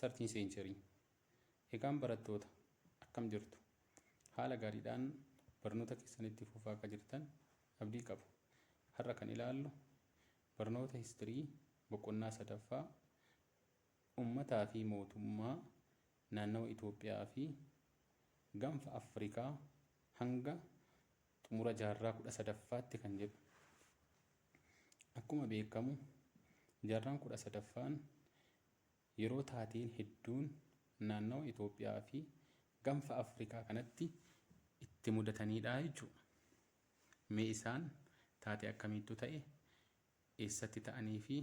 13 century Egaan barattoota akkam jirtu? Haala gaariidhaan barnoota keessan itti fufaa akka jirtan abdii qaba. Har'a kan ilaallu barnoota history boqonnaa sadaffaa ummataa fi mootummaa naannawa Itoophiyaa fi gaanfa Afrikaa hanga xumura jaarraa 13ffaatti kan jedhu. Akkuma beekamu jaarraan 13ffaan Yeroo taateen hedduun naannawa Itoophiyaa fi Ganfa Afrikaa kanatti itti mudataniidha jechuu dha. Mee isaan taatee akkamiittu ta'e, eessatti ta'anii fi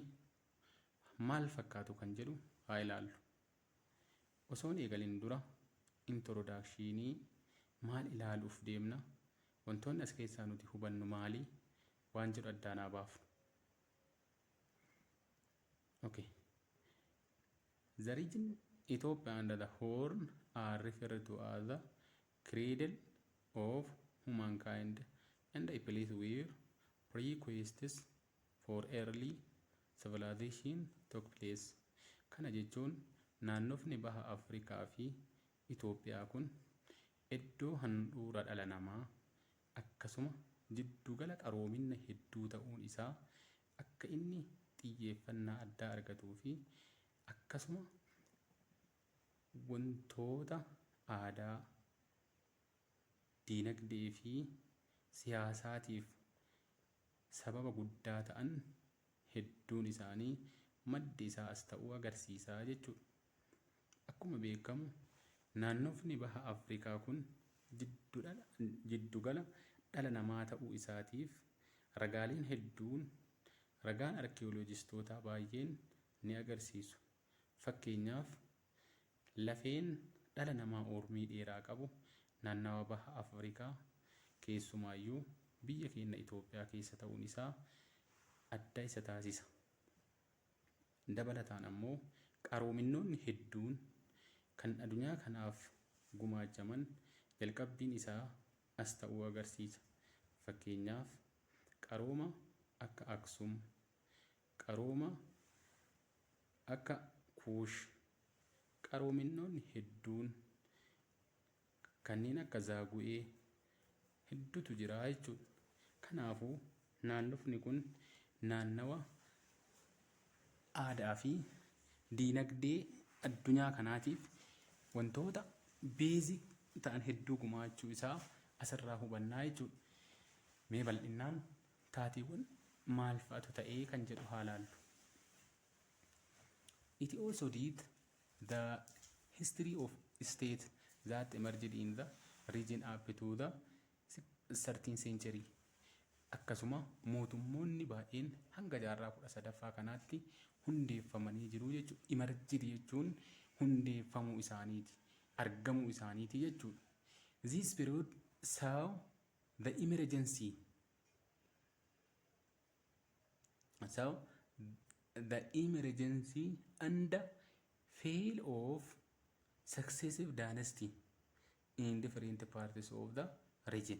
maal fakkaatu kan jedhu haa ilaallu. Osoo hin eegalin dura intorodaakshiinii maal ilaaluuf deemna, wantoonni as keessaa nuti hubannu maali waan jedhu addaan haa baafnu. Okay. The region Ethiopia under the horn are referred to as the cradle of humankind and a place where prequests for early civilization took place. Kana jechuun naannofni baha Afrikaa fi Itoophiyaa kun iddoo handhuura dhala namaa akkasuma jiddugala qaroominna hedduu ta'uun isaa akka inni xiyyeeffannaa addaa argatuu fi akkasuma wantoota aadaa, diinagdee fi siyaasaatiif sababa guddaa ta'an hedduun isaanii maddi isaa as ta'uu agarsiisa jechuudha. Akkuma beekamu naannofni baha Afrikaa kun jiddugala dhala namaa ta'uu isaatiif ragaaleen hedduun ragaan arkiyoolojistootaa baay'een ni agarsiisu. Fakkeenyaaf lafeen dhala namaa uurmii dheeraa qabu naannawa baha Afrikaa keessumaayyuu biyya keenna Itoophiyaa keessa ta'uun isaa adda isa taasisa. Dabalataan ammoo qaroominnoonni hedduun kan adunyaa kanaaf gumaachaman jalqabbiin isaa as ta'uu agarsiisa. Fakkeenyaaf, qarooma akka Aksum, qarooma akka Kuush, qaroominnoonni hedduun kanneen akka zaagu'ee heddutu jira jechuudha. Kanaafuu naannofni kun naannawa aadaa fi diinagdee addunyaa kanaatiif wantoota beezik ta'an hedduu gumaachuu isaa asirraa hubannaa jechuudha. Mee bal'innaan taateewwan maal fa'atu ta'ee kan jedhu haa laallu. Itiyoo Sodiit The history of state that emerged in the region up to the 13th century akkasuma mootummoonni baay'een hanga jaarraa 13ffaa kanaatti hundeeffamanii jiru jechuudha. Emerged jechuun hundeeffamuu isaaniiti, argamuu isaaniiti jechuudha. This period saw the emergency So the emergency and fail of successive dynasty in different parts of the region.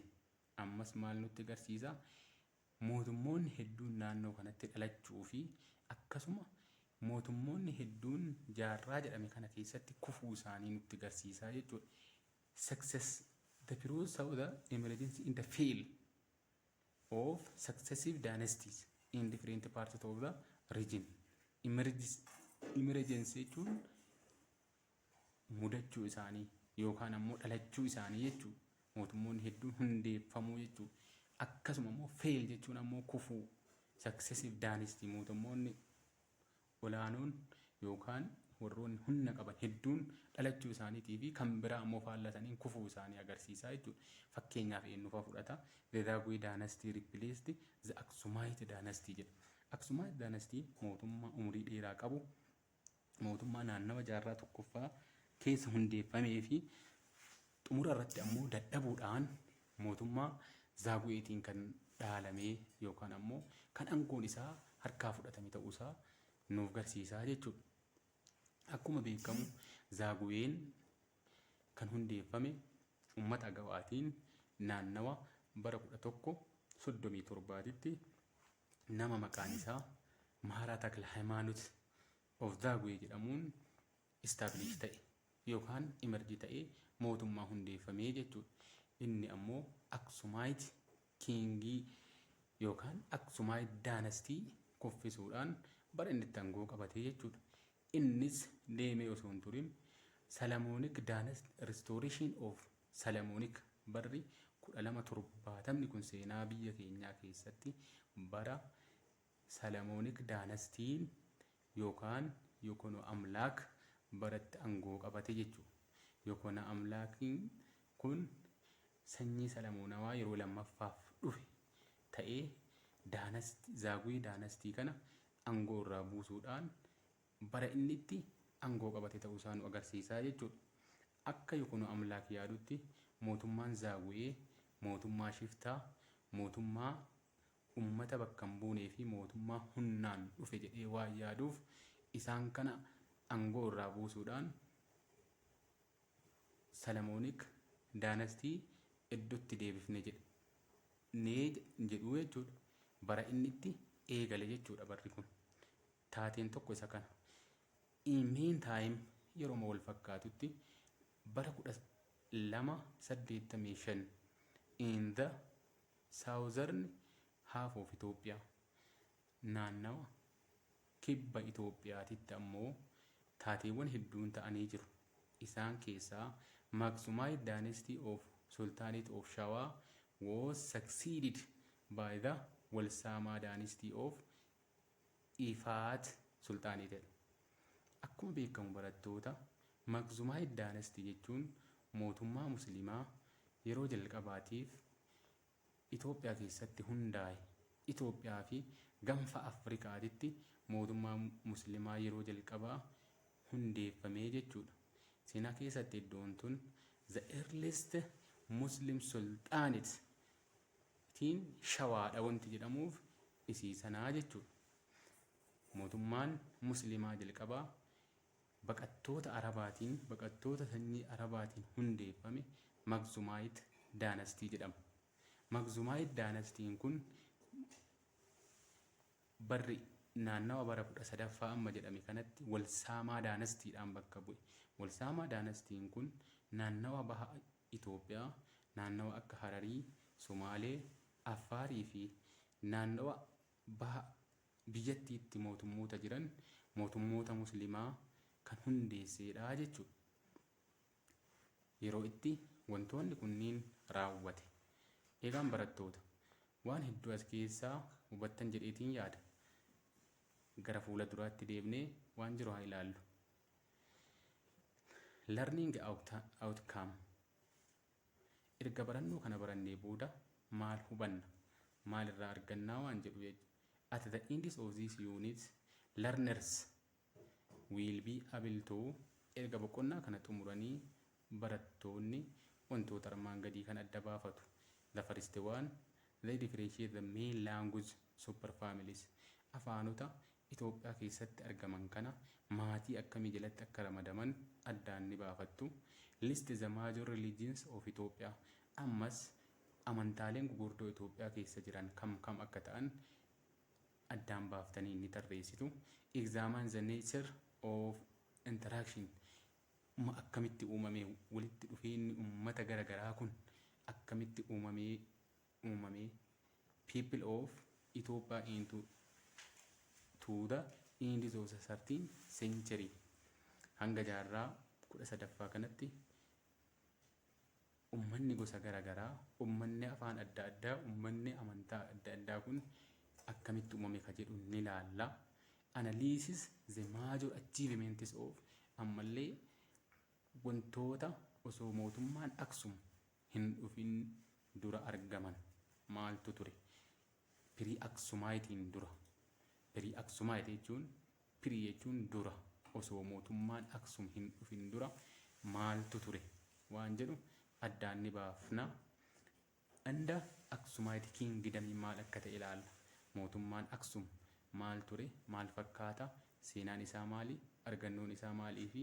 Ammas maal nutti agarsiisa? Mootummoonni hedduun naannoo kanatti dhalachuu fi akkasuma mootummoonni hedduun jaarraa jedhame kana keessatti kufuu isaanii nutti agarsiisa jechuudha. Success the period of the emergency in the fail of successive dynasties in different parts of the region. Emergence jechuun mudachuu isaanii yookaan ammoo dhalachuu isaanii jechuu mootummoonni hedduun hundeeffamuu jechuu akkasuma ammoo fail jechuun ammoo kufuu successive dynasty mootummoonni olaanoon yookaan warroonni humna qaban hedduun dhalachuu isaaniitii fi kan biraa ammoo faallaa saniin kufuu isaanii agarsiisaa jechuudha. Fakkeenyaaf eenyufa fudhata? The Zagwe dynasty replaced the Aksumite dynasty jedha. Aksumite dynasty mootummaa umurii dheeraa qabu mootummaa naannawa jaarraa tokkoffaa keessa hundeeffamee fi Xumura irratti ammoo dadhabuudhaan mootummaa Zaaguweetiin kan dhaalamee yookaan ammoo kan angoon isaa harkaa fudhatame ta'uu isaa nuuf garsiisaa jechuudha. Akkuma beekamu Zaaguween kan hundeeffame ummata Agawaatiin naannawa bara 1137tti nama maqaan isaa Maharaa Takla Hayimaanut of Zaaguwee jedhamuun establish ta'e yookaan emerge ta'ee mootummaa hundeeffame jechuudha. Inni ammoo Aksumaayiti Kiingii yookaan Aksumaayiti Daanastii kuffisuudhaan bara inni itti angoo qabate jechuudha. Innis deemee osoo hin turin Salamoonik Daanasti Restoration of Salamoonik barri 1270 kun seenaa biyya keenyaa keessatti bara Salamonik Dynasty yookaan Yokono Amlaak baratti angoo qabate jechuu. Yokona Amlaakin kun sanyii Salamoonawaa yeroo lammaffaaf dhufe ta'ee Dynasty, Zagwe Dynasty kana angoo irraa buusuudhaan bara inni itti angoo qabate ta'uu isaa nu agarsiisa jechuudha. Akka Yokono Amlaak yaadutti mootummaan Zagwe mootummaa shiftaa, mootummaa Ummata bakka hin buunee fi mootummaa humnaan dhufe jedhee waan yaaduuf isaan kana angoo irraa buusuudhaan Salamonik dynasty eddotti deebifne jedhnee jedhuu jechuudha. Bara inni itti eegale jechuudha barri kun. Taateen tokko isa kana. In mean time yeroma wal fakkaatutti bara 1285 in the Southern half of Ethiopia, Naannawa kibba Itoophiyaatitti ammoo taateewwan hedduun ta'anii jiru. Isaan keessaa Maxumite dynasty of Sultanate of Shawa was succeeded by the Walsama dynasty of Ifaat Sulxaanii ta'e. Akkuma beekamu barattoota, Makhzumaid Dynasty jechuun mootummaa Musliimaa yeroo jalqabaatiif Itoophiyaa keessatti hundaa'e. Itoophiyaa fi Ganfa Afrikaatitti mootummaa Musliimaa yeroo jalqabaa hundeeffamee jechuudha. Seenaa keessatti iddoon tun the earliest Muslim Sultanate Mootiin Shawaadha wanti jedhamuuf isii sanaa jechuudha. Mootummaan Musliimaa jalqabaa baqattoota Arabaatiin, baqattoota sanyii Arabaatiin hundeeffame Magzumaayit Daanastii jedhama. Magzumaayit Daanastiin kun barri naannawa bara 13ffaa amma jedhame kanatti Walsaamaa Daanastiidhaan bakka bu'e. Walsaamaa Daanastiin kun naannawa baha Itoophiyaa naannawa akka Hararii, Somaalee, Affaarii fi naannawa baha biyyattiitti mootummoota jiran mootummoota Muslimaa kan hundeesseedha jechuudha. Yeroo itti wantoonni kunniin raawwate. Egaan barattoota, waan hedduu as keessaa hubattan jedheetiin yaada. Gara fuula duraatti deebnee waan jiru haa ilaallu. Learning outcome erga barannoo kana barannee booda maal hubanna maal irraa argannaa waan jedhu jechuudha. At the end of this unit learners will be able to erga boqonnaa kana xumuranii barattoonni wantoota armaan gadii kan adda baafatu. The first one they differentiate the main language super families afaanota Itoophiyaa keessatti argaman kana maatii akkamii jalatti akka ramadaman addaan ni baafattu. List the major religions of Ethiopia Ammas amantaaleen gugurdoo Itoophiyaa keessa jiran kam kam akka ta'an addaan baaftanii ni tarreessitu. Examine the nature of interaction ma akkamitti uumame walitti dhufeenyi ummata gara garaa kun akkamitti uumamee uumame People of Ethiopia into to the end of the 13th century hanga jaarraa 13ffaa kanatti ummanni gosa garaagaraa ummanni afaan adda addaa ummanni amantaa adda addaa kun akkamitti uumame ka jedhu ni laalla analysis the major achievements of ammallee wantoota osoo mootummaan aksum hin dhufin dura argaman maaltu ture? Pirii'aksumaayitiin dura. Pirii'aksumaayit jechuun pirii jechuun dura osoo mootummaan Aksum hin dhufin dura maaltu ture waan jedhu addaan ni baafna. Anda Aksumaayit Kiingidamiin maal akka ta'e ilaalla. Mootummaan Aksum maal ture? Maal fakkaata? Seenaan isaa maali? Argannoon isaa maalii fi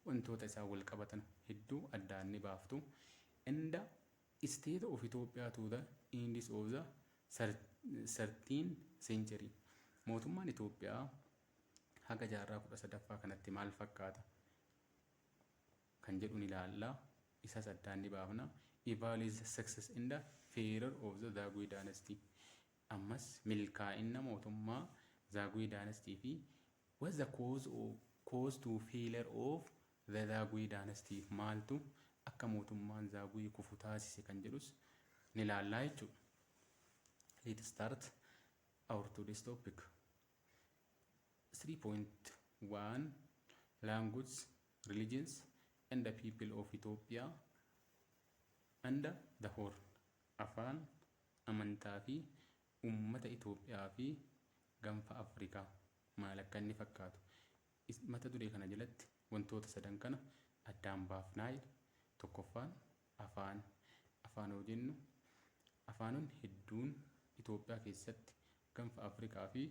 wantoota isaan wal qabatan hedduu addaan ni baaftu and the state of Ethiopia to the ends of the thirteenth century mootummaan Itoophiyaa haga jaarraa kudha sadaffaa kanatti maal fakkaata kan jedhu ni ilaalla isas addaan ni baafna evaluate the success and the failure of the Zagwe dynasty ammas milkaa'inna mootummaa Zagwe dynasty fi What's the cause or cause to failure of the Zagwe dynasty? Maaltu akka mootummaan Zagwe kufu taasise kan jedhus ni ilaallaa jechuudha. Let's start our today's topic. 3.1 Languages, Religions and the People of Ethiopia and the Horn Afaan, amantaa fi Ummata Itoophiyaa fi Ganfa Afrikaa maal akka inni fakkaatu mata duree kana jalatti wantoota sadan kana addaan baafnaayl tokkoffaan afaan afaan hoo jennu afaanonni hedduun Itoophiyaa keessatti ganfa Afrikaa fi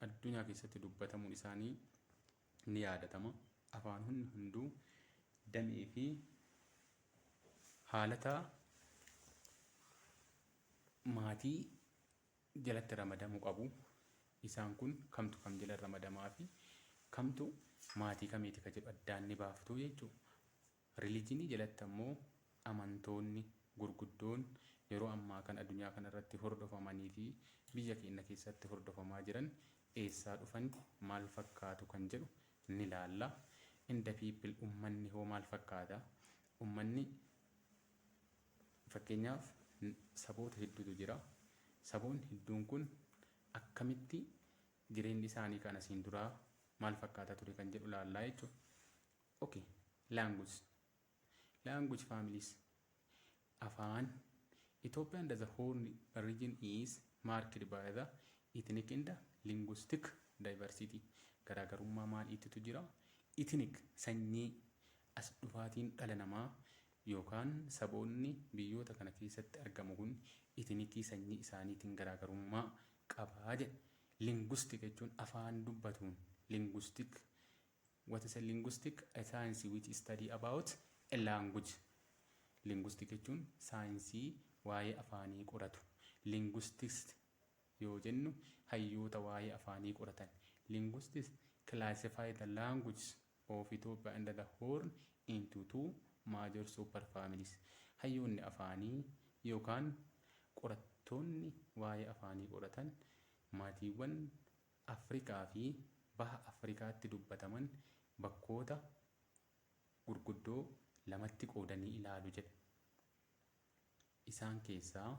addunyaa keessatti dubbatamuun isaanii ni yaadatama. Afaanonni hunduu damee fi haalata maatii jalatti ramadamu qabu. Isaan kun kamtu kam jala ramadamaa fi kamtu maatii kamiiti ka jedhu addaan ni baaftu jechuudha. Rilijinii jalatti ammoo amantoonni gurguddoon yeroo ammaa kana addunyaa kana irratti hordofamanii fi biyya keenna keessatti hordofamaa jiran eessaa dhufani, maal fakkaatu kan jedhu ni laalla. In the people ummanni hoo maal fakkaata? Ummanni fakkeenyaaf saboota hedduutu jira. Saboonni hedduun kun akkamitti jireenni isaanii kan asiin duraa maal fakkaata ture kan jedhu laallaa jechuudha. Ok language language families afaan Ethiopian the horn region is marked by the ethnic and linguistic diversity garaagarummaa maal ittitu jira ethnic sanyii as dhufaatiin dhala namaa yookaan saboonni biyyoota kana keessatti argamu kun ethnikii sanyii isaaniitiin garaagarummaa qabaa jedhe linguistic jechuun afaan dubbatuun linguistic What is a linguistic? A science which study about a language. Linguistic jechuun saayinsii waa'ee afaanii qoratu. Linguistics yoo jennu hayyoota waa'ee afaanii qoratan. Linguistics classify the languages of Ethiopia and the Horn into two major super families. Hayyoonni afaanii yookaan qorattoonni waa'ee afaanii qoratan maatiiwwan Afrikaa fi Baha Afrikaatti dubbataman bakkoota gurguddoo lamatti qoodanii ilaalu jedha. Isaan keessaa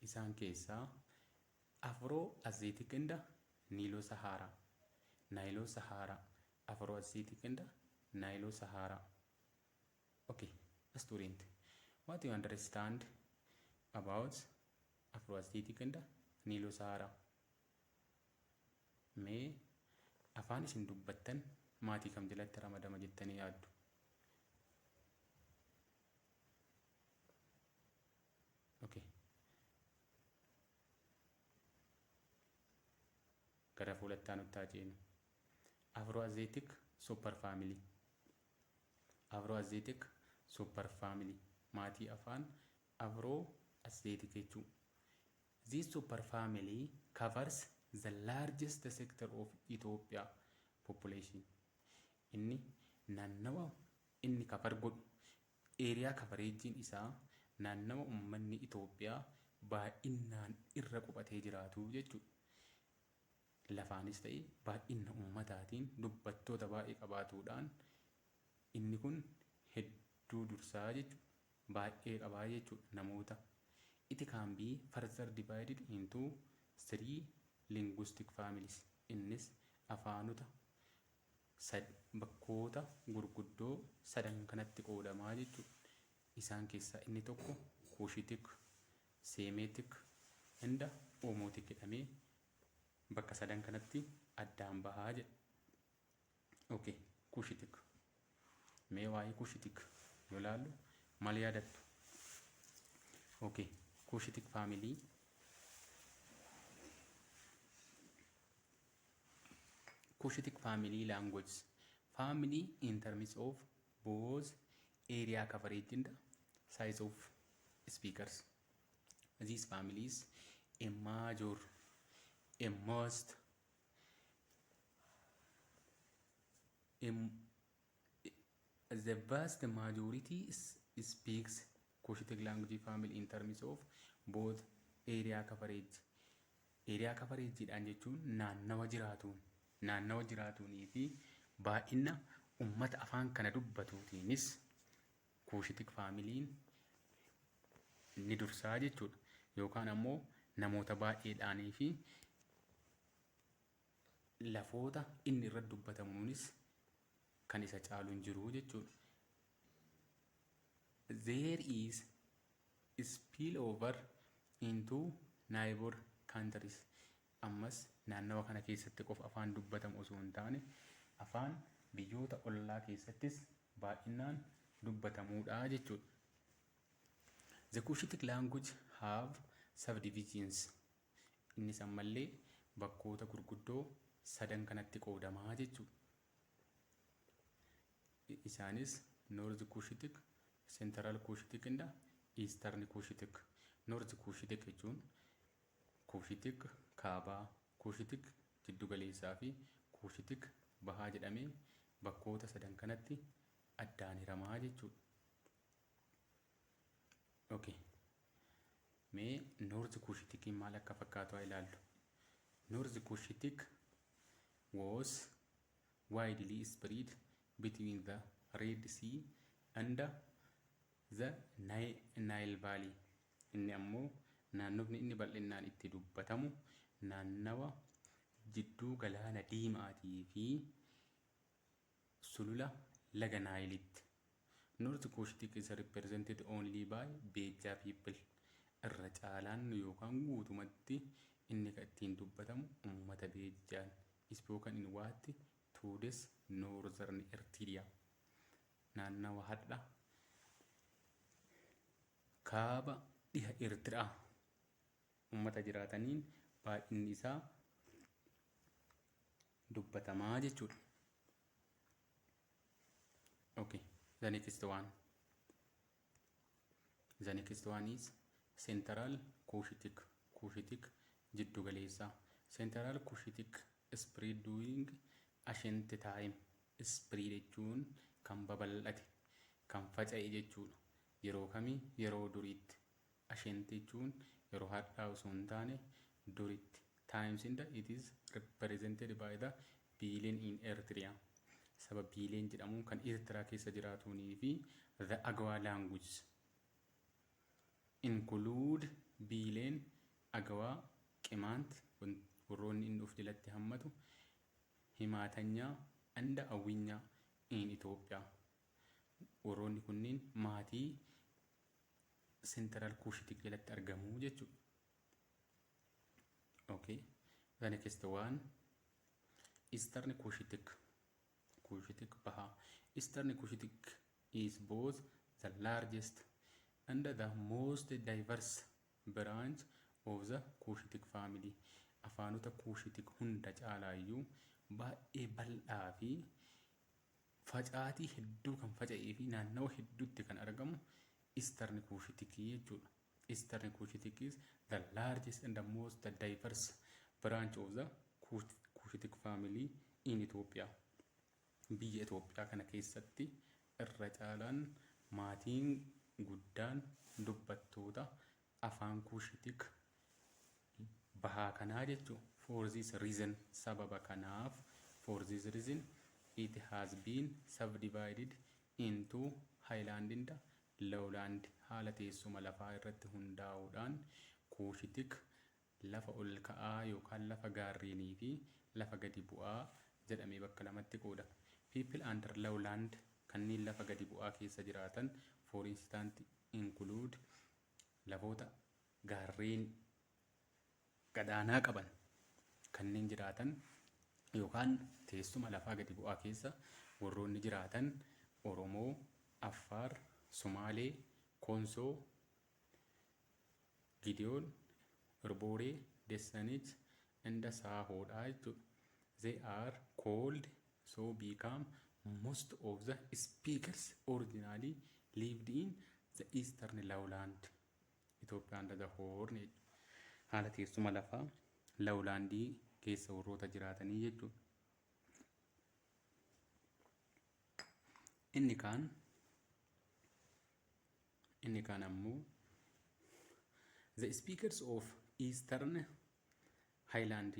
Isaan keessaa Afro-Asiatic and Nilo-Sahara, Nilo-Sahara, Afro-Asiatic and Nilo-Sahara. Ok, student, what you understand about Afro-Asiatic and Nilo-Sahara? Mee afaan isin dubbattan maatii kam jalatti ramadama jettanii yaaddu? Okay. Gara fuulatti aanutti haa ceenu. Afroasiatic superfamily. Afroasiatic superfamily. Maatii afaan Afroasiatic jechuu. This super family covers the largest sector of Ethiopia population. Inni naannawa inni cover godhu, area coverage isaa naannawa ummanni Itoophiyaa baay'innaan irra qubatee jiraatu jechuudha. Lafaanis ta'e baay'inna ummataatiin dubbattoota baay'ee qabaatuudhaan Inni kun hedduu dursaa jechu baay'ee qabaa jechuudha namoota It can be further divided into three linguistic families innis afaanota sad bakkoota gurguddoo sadan kanatti qoodamaa jechuudha isaan keessaa inni tokko Cushitic, Semitic and Omotic jedhamee bakka sadan kanatti addaan bahaa jedha. Okay. Kushitik. Mee waa'ee kushitik yoo ilaallu maal yaadattu? Okay. Kushitik faamilii Kushitik faamilii laanguweejis. Faamilii in terms of both area coverage and size of speakers. These families a major, a most the vast majority speaks Cushitic language family in terms of both area coverage. Area coverage dhaan jechuun naannawa jiraatuun naannawa jiraatuunii fi baay'ina ummata afaan kana dubbatuutiinis Kuushitik faamiliin ni dursaa jechuudha. Yookaan ammoo namoota baay'eedhaanii fi lafoota inni irratti dubbatamuunis kan isa caalu hin jiru jechuudha. There is spillover into neighbor countries. Ammas naannawa kana keessatti qofa afaan dubbatamu osoo hin taane afaan biyyoota ollaa keessattis baay'innaan dubbatamuudha jechuudha. The Cushitic language have subdivisions innis ammallee bakkoota gurguddoo sadan kanatti qoodama jechuudha. Isaanis North Cushitic, Central Cushitic and Eastern Cushitic. North Cushitic jechuun Kuushitik Kaabaa, Kuushitik Jiddugaleessaa fi Kuushitik Bahaa jedhamee bakkoota sadan kanatti addaan hirama jechuudha. Okay. Mee Noorzi Kuushitikiin maal akka fakkaatu haa ilaallu. Noorzi Kuushitik was widely spread between the Red Sea and the Nile Valley. Inni ammoo naannofni inni bal'innaan itti dubbatamu naannawa jidduu Galaana Diimaatii fi sulula laga Naayilitti. North Cushitic is represented only by Beja people. Irra caalaan yookaan guutumatti inni ka ittiin dubbatamu ummata Beejjaan, spoken in what today's northern Ertiria, naannawa hardha Kaaba dhiha Eertiraa ummata jiraataniin baay'inni isaa dubbatamaa jechuudha. Okay, the next one. The next one is Central Cushitic. Cushitic jiddu galeessaa. Central Cushitic spread during ancient time. Spread jechuun kan babal'ate, kan faca'e jechuudha. Yeroo kami? Yeroo duriitti. Ashent jechuun yeroo hardhaa osoo hin taane duritti. Times in the it is represented by the biileen in Eritrea. Saba biileen jedhamuun kan Eertiraa keessa jiraatuunii fi the Agawa languages include biileen Agawaa, Qimaant, warroonni inni of jalatti hammatu, Himaatanyaa and Awwinyaa in Ethiopia. Warroonni kunniin maatii sentiraal kuushitii jalatti argamu jechuudha. Okay. The next one Eastern Cushitic. Cushitic Baha. Eastern Cushitic is both the largest and the most diverse branch of the Cushitic family. Afaanota Cushitic hunda caalaayyuu baay'ee bal'aa fi Facaatii hedduu kan faca'ee fi naannawa hedduutti kan argamu Eastern Cushitic jechuudha. Eastern Cushitic is the largest and the most diverse branch of the Cushitic family in Ethiopia. Biyya Itoophiyaa kana keessatti irra caalaan maatiin guddaan dubbattoota Afaan Kuushitik bahaa kanaa jechu for this reason sababa kanaaf for this reason it has been subdivided into highland and lowland haala teessuma lafaa irratti hundaa'uudhaan Kuushitik Lafa ol ka'aa yookaan lafa gaarreenii fi lafa gadi bu'aa jedhamee bakka lamatti qoodama. People under low land kanneen lafa gadi bu'aa keessa jiraatan for instant include lafoota gaarreen gadaanaa qaban kanneen jiraatan yookaan teessuma lafaa gadi bu'aa keessa warroonni jiraatan Oromoo, Affaar, Sumaalee, Konsoo, Gideon Irbore Dessanich inda Saahoodha jechuudha. They are called so become most of the speakers originally lived in the eastern lowland Ethiopia under the horn haala teessuma lafaa lawlaandii keessa warroota jiraatanii jechuudha. Inni kaan Inni kaan ammoo The speakers of Eastern Highland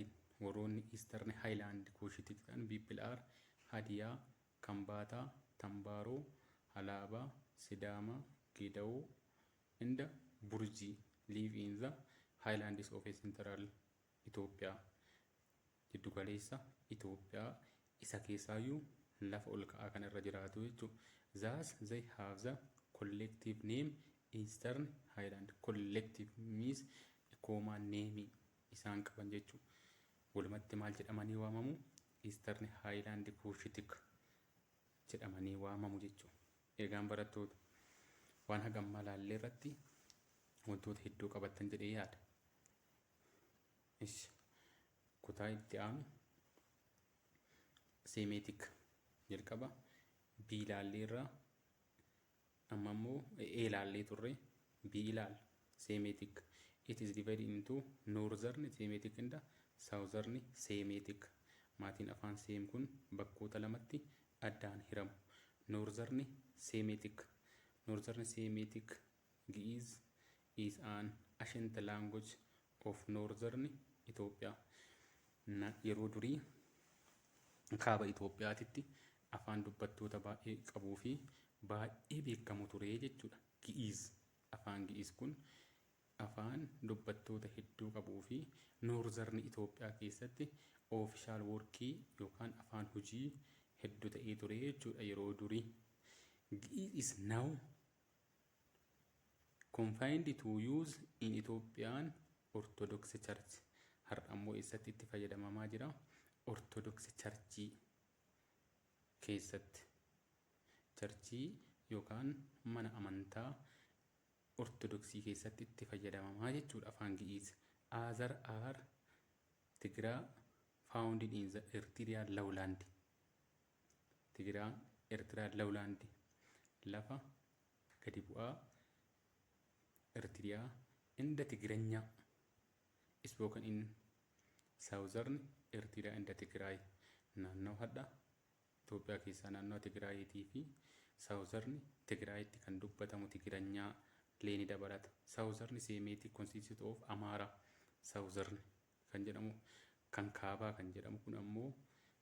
warroonni Eastern Highland Kuushitik ta'an people are Hadiyaa, Kambaataa, Tambaaroo, Halaabaa, Sidaama, Geedawoo and Burjii live in the Highlands of Central Ethiopia. Jiddu galeessa Itoophiyaa isa keessaayyuu lafa ol ka'aa kana irra jiraatu jechuudha. Thus they have the collective name Eastern Highland. Collective means dhikoomaa name isaan qaban jechuudha. Walumatti maal jedhamanii waamamu? Eastern Highland Cushitic jedhamanii waamamu jechuudha. Eegaan barattoota waan hagammaa laallee irratti wantoota hedduu qabattan jedhee yaada. Ishi. Kutaa itti aanu seemeetik jalqaba B ilaallee irraa amma immoo A ilaallee turre B ilaal seemeetik it is divided into northern seemeetik and southern seemeetik maatiin afaan seem kun bakkoota lamatti addaan hiramu northern seemeetik northern seemeetik Gi'iz is an ancient language of northern Ethiopia. Na, yeroo durii kaaba Itoophiyaatitti afaan dubbattoota baay'ee qabuu fi baay'ee beekamu ture jechuudha. Gi'iz, afaan Gi'iz kun afaan dubbattoota hedduu qabuu fi noorzarni Itoophiyaa keessatti oofishaal workii yookaan afaan hojii heddu ta'ee ture jechuudha yeroo durii. Gi'iz is now Confined to use in Ethiopian Orthodox Church. Har'a immoo eessatti itti fayyadamamaa jira? Orthodox Church keessatti. Charchii yookaan mana amantaa Ortodoksii keessatti itti fayyadamamaa jechuudha afaan Gi'iiz. Azar are Tigiraa founded in the Eritrea lowland. Tigiraan, Ertiraa Lowlaandi, lafa gadi bu'aa Ertiriyaa inda Tigiranyaa, spoken in Southern Ertiraa inda Tigiraay, naannawa hadha Itoophiyaa keessaa naannawa Tigiraayiitii fi Southern Tigiraayitti kan dubbatamu Tigiranyaa lee ni dabalata. Southern Seemiitik Constitute of Amaara, Southern kan jedhamu kan kaabaa kan jedhamu kun ammoo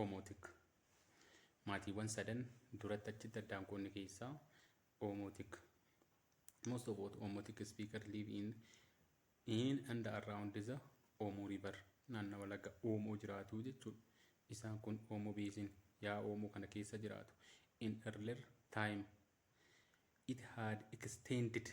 Oomotik. Maatiiwwan sadan duratti achitti addaan qoonni keessaa Oomotik. Most of what Oomotik speaker live in in and around the Oomoo River naannawa laga Oomoo jiraatu jechuudha. Isaan kun Oomoo Beesin yaa Oomoo kana keessa jiraatu. In earlier time it had extended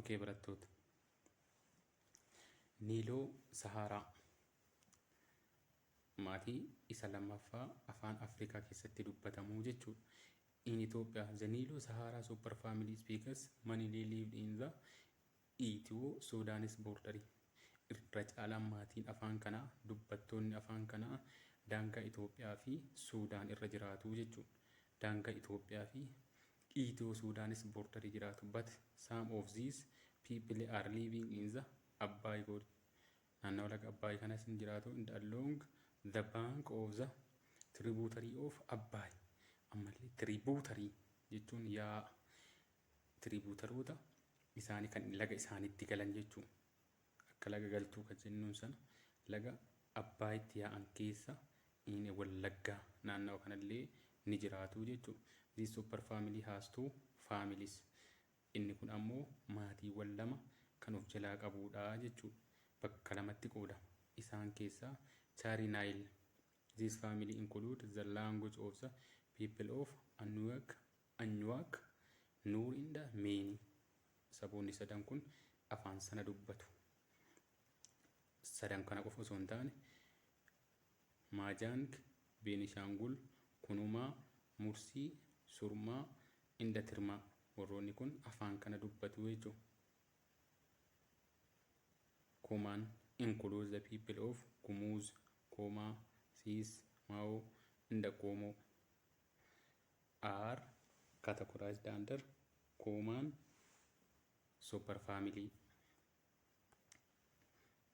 Okay barattoota. Niiloo Sahaaraa maatii isa lammaffaa afaan Afrikaa keessatti dubbatamu jechuudha. In Ethiopia, the Nilo Sahara superfamily speakers mainly lived in the Ethio-Sudanese border. Irra caalaan maatiin afaan kanaa dubbattoonni afaan kanaa daangaa Itoophiyaa fi Suudaan irra jiraatu jechuudha. Daangaa Itoophiyaa fi The Ethio Sudanese border jiraatu but some of these people are living in the Abbaay Good naannawa laga Abbaay kanas hin jiraatu and along the bank of the tributary of Abbaay ammallee tributary jechuun yaa'a tributaroota isaanii kan laga isaaniitti galan jechuun Akka laga galtuu ka jennuun sana laga Abbaayitti yaa'an keessa in Wallaggaa naannawa kanallee ni jiraatu jechuudha. This super family has two families. Inni kun ammoo maatiiwwan lama kan of jalaa qabuudha jechuudha. Bakka lamatti qoodama. Isaan keessaa Chari Nile. This family includes the language of the people of Anuak Anyuwaak, Nuuriin dha Meeni. Saboonni sadan kun afaan sana dubbatu. Sadan kana qofa osoo hin taane Maajaang, Beenishaangul, Kunumaa, Mursii, Surmaa, Indatirmaa warroonni kun afaan kana dubbatu jechuudha. Kumaan includes the people of Gumuz, Koomaa, Siis, Maawoo, Indaqoomoo. are categorized under common superfamily.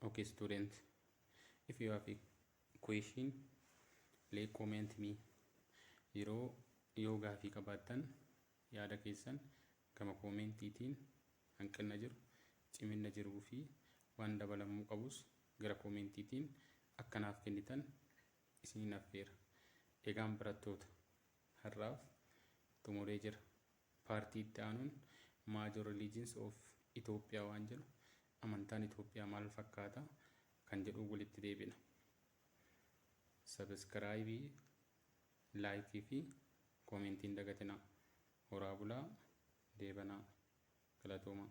Okay, students, if you have a question, please comment me. Yeroo yoo gaafii qabaattan yaada keessan gama koomentiitiin hanqina jiru, cimina jiruu fi waan dabalamuu qabus gara koomentiitiin akka naaf kennitan isiniin affeera. Egaan barattoota har'aaf xumuree jira. Paartii itti aanuun Major Religions of Ethiopia waan jedhu amantaan Itoophiyaa maal fakkaata kan jedhu walitti deebina. Sabiskiraayibii, laayikii fi koomentii hin dagatinaa. Horaa bulaa, deebanaa. Galatoomaa.